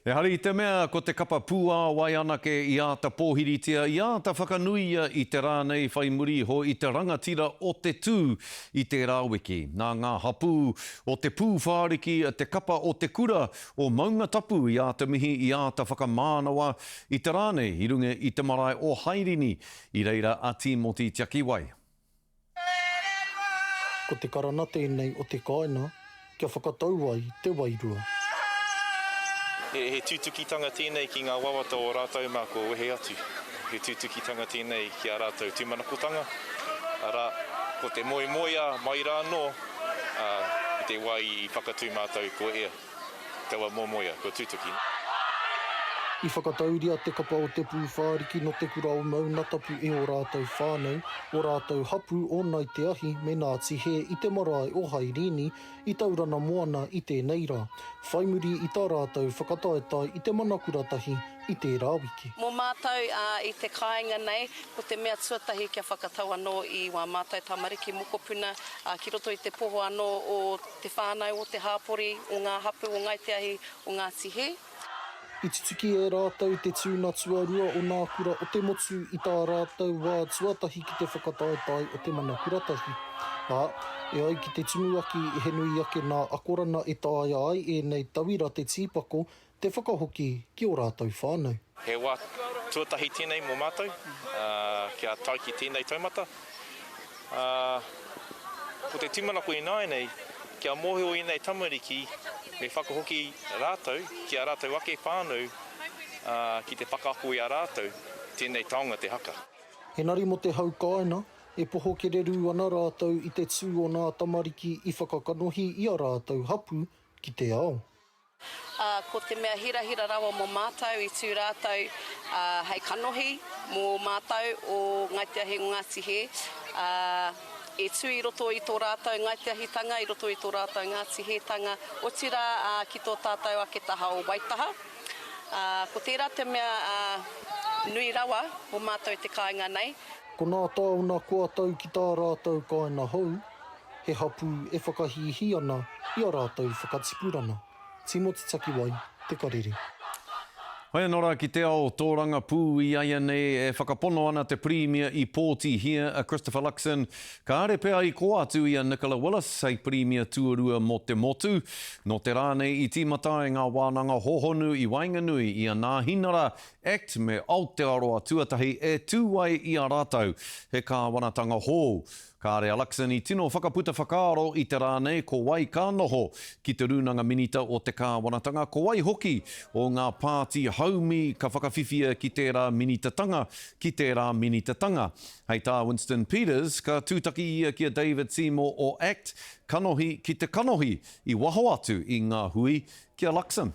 Ehara i te mea ko te kapa pūāwai anake i āta pōhiritia, i āta whakanuia i te rā nei whai muri iho i te rangatira o te tū i tērā wiki. Nā ngā hapū o te pū whāriki te kapa o te kura o Maunga Tapu i āta mihi, i āta whakamānawa i te rā nei i runga i te marae o Hairini i reira a Tīmoti Tiakiwai. Ko te karana tēnei o te kāinga kia whakatau ai te wairua. He tutukitanga tēnei ki ngā wawata o rātou mā kua wehe atu. He tutukitanga tēnei ki ā rātou tūmanakotanga, arā, ko te moemoeā mai rā anō i te wā i whakatū mātou ko ia. Kaua momoia, kua tutuki. I whakatauria te kapa o Te Pūwhāriki nō te kura o Maunatapu e ō rātou whānau, ō rātou hapū o Ngāi Te Ahi me Ngāti Hē i te marae o Hairīni i Taurana Moana i tēnei rā, whai muri i tā rātou whakataetae i te mana kura tahi i tērā wiki. Mō mātou i te kāinga nei, ko te mea tuatahi kia whakatau anō i wā mātou tamariki mokopuna ki roto i te poho anō o. Te whānau o te hāpori, o ngā hapū o Ngāi Te Ahi, o Ngāti Hī. I tutuki e rātou te tūnga tuarua o Ngā Kura o te Motu i tā rātou wā tuatahi ki te whakataetae o te Mana Kuratahi, ā, e ai ki te tumuaki he nui ake nā akoranga e taea ai ēnei tauira te tīpako Te whakahoki ki ō rātou whānau. He wā tuatahi tēnei mō mātou kia tae ki tēnei taumata, ā, ko te tūmanako ināianei kia mōhio ēnei tamariki me whakahoki rātou ki ā rātou ake whānau ki te whakaako i a rātou tēnei taonga te haka. Engari mō te haukaina, e poho kererū ana rātou i te tū o ngā tamariki i whakakanohi i a rātou hapū ki te ao. Ā, ko te mea hirahira rawa mō mātou i tū rātou hei kanohi mō mātou o Ngāi Te Ahi o Ngāti Hē, ā, e tū i roto i tō rātou Ngāi Te Ahitanga, i roto i tō rātou Ngāti Hētanga, otirā ki tō tātou ake taha o Waitaha. Ā, ko tērā te mea nui rawa mō mātou te kāinga nei. Ko nā Tāona kua tau ki tā rātou kāinga hou, he hapū e whakahīhī ana i a rātou whakatipurana. Timoti Takiwai, Te Karere. Haea no ra ki te ao tōrangapū iaianei e whakapono ana te Pirimia i pōtihia a Christopher Luxon, kāre pea i kō atu i a Nicola Willis hei Pirimia Tuarua mō te Motu. Nō te rā nei i tīmata ai ngā wānanga hohonu i waenganui i a Nāhinara, act, me Aotearoa tuatahi e tū ai i a rātou he kāwanatanga hou. Kāre a Luxon i tino whakaputa whakaaro i te rā nei ko wai ka noho ki te Rūnanga Minita o te Kāwanatanga, ko wai hoki o ngā pāti haumi ka whakawhiwhia ki tērā minitatanga, ki tērā minitatanga. Hei tā Winston Peters, ka tūtaki ia ki a David Seymour o act, kanohi ki te kanohi i waho atu i ngā hui ki a Luxon.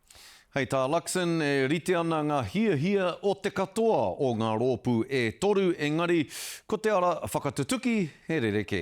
Hei tā Luxon, e rite ana ngā hiahia o te katoa o ngā rōpū e toru engari ko te ara whakatutuki he rerekē.